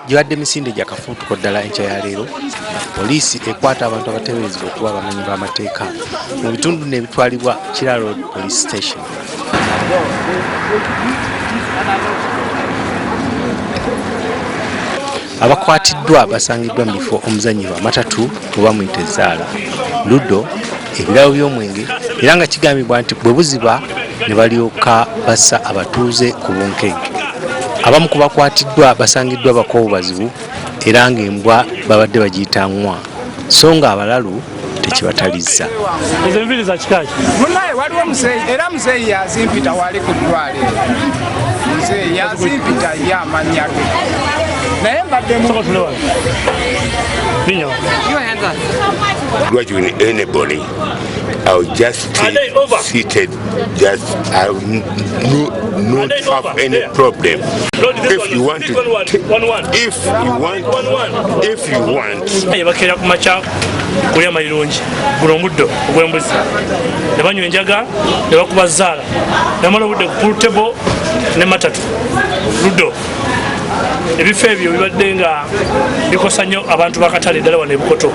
gibadde misinde gya kafuutuko ddala enkya ya leero poliisi ekwata abantu abateeberezebwa okuba abamenyi b'amateeka mu bitundu n'ebitwalibwa kira road police station abakwatiddwa basangiddwa mu bifo omuzanyirwa amatatu oba muyita ezaala ludo ebirabo by'omwenge era nga kigambibwa nti bwe buziba ne balyoka bassa abatuuze ku bunkenke abamu ku bakwatiddwa basangiddwa bakoowu bazibu era ng'embwa babadde bagiyita nwa so nga abalalu tekibatalizza ezo enviri za kikaki munaye waliwo muzeeyi era muzeeyi yazimpita wali ku ddwaliro muzeeyi yazimpita ye amanya ge naye mbadde Binyo. Your hands up. What you need anybody? I'll just stay seated. Just I no not have any problem. If you want to, if you want, if you want. bakera ku makya kulya mayirungi guno omuddo ogw'embuzi ne banywa enjaga ne bakuba zaala ne bamala obudde ku pulutebo ne matatu luddo ebifo ebyo bibadde nga bikosa nnyo abantu bakatale eddala wano ebukoto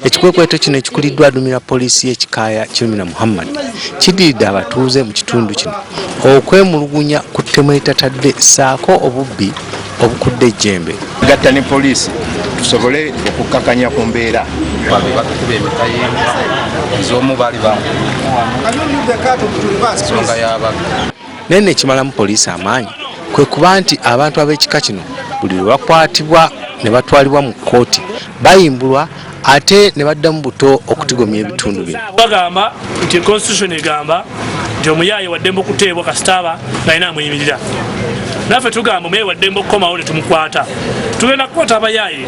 ekikwekweto kino ekikuliddwa adumira poliisi y'ekikaaya kirumira muhammad kidiridde abatuuze mu kitundu kino okwemulugunya ku ttemu eritatadde saako obubbi obukudde ejjembe gatta ne poliisi tusobole okukkakanya ku mbeera ez'omu baali bansonga y'abaga naye nekimalamu poliisi amaanyi kwe kuba nti abantu ab'ekika kino buli lwe bakwatibwa ne batwalibwa mu kkooti bayimbulwa ate ne baddamu buto okutigomya ebitundu bino bagamba nti constitution egamba nti omuyaaye waddembe okuteebwa kasitaaba ngalina amuyimirira naffe tugamba omuyaaye waddembe okukomawo ne tumukwata tugenda kukwata abayaaye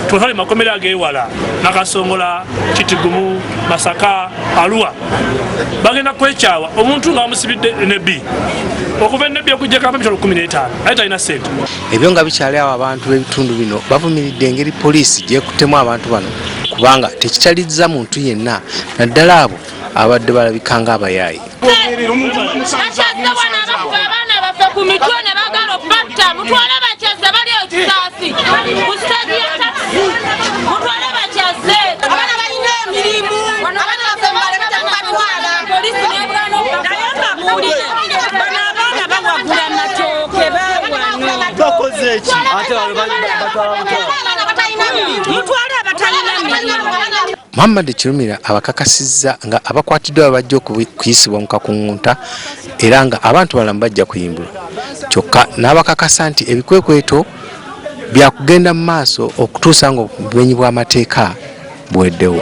tubatwale makomera ag'ewala nakasongola kitigumu masaka aluwa bagenda kwekyawa omuntu nga bamusibidde nebi okuva enebi okujjako abamitolo kumi n'etaano aye talina sente ebyo nga bikyali awo abantu b'ebitundu bino bavumiridde engeri poliisi gyekuttemu abantu bano kubanga tekitalizza muntu yenna naddala abo abadde balabika nga abayaayi ku mitwe ne bagala okubatta mutwale bakyazze bali ekisaasi ku sitegi ya takisi mutwale bakyazze Muhammad Kirumira abakakasizza nga abakwatiddwa babajja okuyisibwa mu kakungunta era nga abantu balamu bajja kuyimbulwa kyokka n'abakakasa nti ebikwekweto byakugenda mu maaso okutuusa ng'obumenyi bw'amateeka buweddewo.